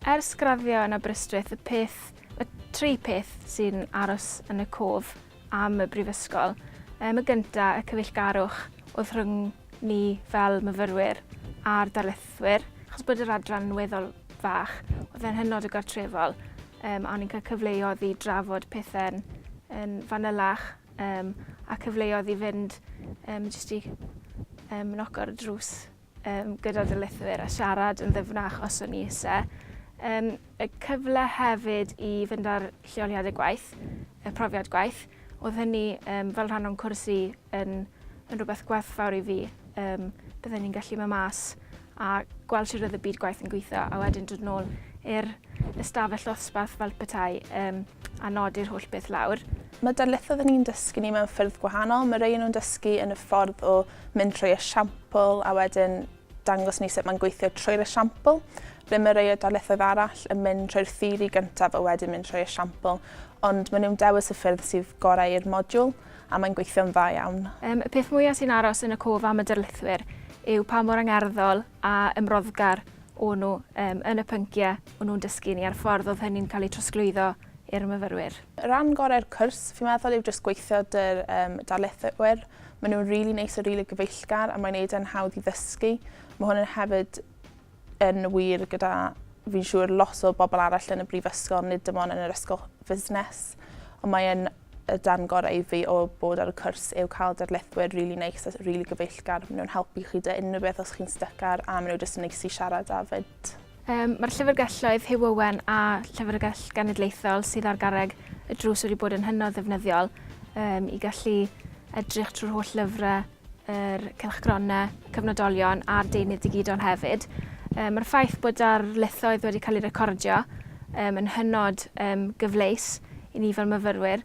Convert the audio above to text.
Ers graddio yn Aberystwyth, y peth, y tri peth sy'n aros yn y cof am y brifysgol. Ym y gynta, y cyfeillgarwch oedd rhwng ni fel myfyrwyr a'r darlithwyr, achos bod yr adran yn weddol fach, oedd e'n hynod o gartrefol, um, a o'n i'n cael cyfleoedd i drafod pethau'n yn fanylach, um, a cyfleoedd i fynd um, jyst i um, noc ar y drws um, gyda darlithwyr a siarad yn ddyfnach os o'n i eisiau. Um, y cyfle hefyd i fynd â'r lleoliadau gwaith, y profiad gwaith. Oedd hynny um, fel rhan o'n cwrs i yn, yn rhywbeth gwerthfawr i fi. Um, byddwn ni'n gallu mynd mas a gweld sut oedd y byd gwaith yn gweithio a wedyn dod nôl i'r ystafell ddosbarth fel petai um, a nodi'r holl beth lawr. Mae darlithoedd yn ni'n dysgu ni mewn ffyrdd gwahanol. Mae rei nhw'n dysgu yn y ffordd o mynd trwy esiampl a wedyn Dangos ni sut mae'n gweithio trwy'r esiampl. Ble mae rhai o darlithoedd arall yn mynd trwy'r theori gyntaf a wedyn mynd trwy'r esiampl, ond maen nhw'n dewis y ffyrdd sydd gorau i'r modiwl, a mae'n gweithio'n dda iawn. Um, y peth mwyaf sy'n aros yn y cof am y darlithwyr yw pa mor angerddol a ymroddgar o'n nhw um, yn y pynciau o'n nhw'n dysgu ni a'r ffordd oedd hynny'n cael ei trosglwyddo i'r myfyrwyr. Rhan gorau'r cwrs, fi'n meddwl, yw jyst gweithio dy'r um, darlithwyr. Mae nhw'n rili really neis a rili really gyfeillgar a mae'n neud e'n hawdd i ddysgu. Mae hwn yn hefyd yn wir gyda fi'n siŵr lot o bobl arall yn y brifysgol, nid dim ond yn yr ysgol fusnes. Ond mae'n y dan gorau i fi o bod ar y cwrs yw cael darlithwyr rili really neis a rili really gyfeillgar. Mae nhw'n helpu chi dy unrhyw beth os chi'n stycar a maen nhw jyst yn neis i siarad â fyd. Yym, mae'r Llyfrgelloedd Hugh Owen a Llyfrgell Genedlaethol sydd ar garreg y drws wedi bod yn hynod ddefnyddiol um, i gallu edrych trwy'r holl lyfrau, yr cylchgronau, cyfnodolion a'r deunydd digidol hefyd. Um, mae'r ffaith bod ar lethoedd wedi cael ei recordio um, yn hynod um, gyfleus i ni fel myfyrwyr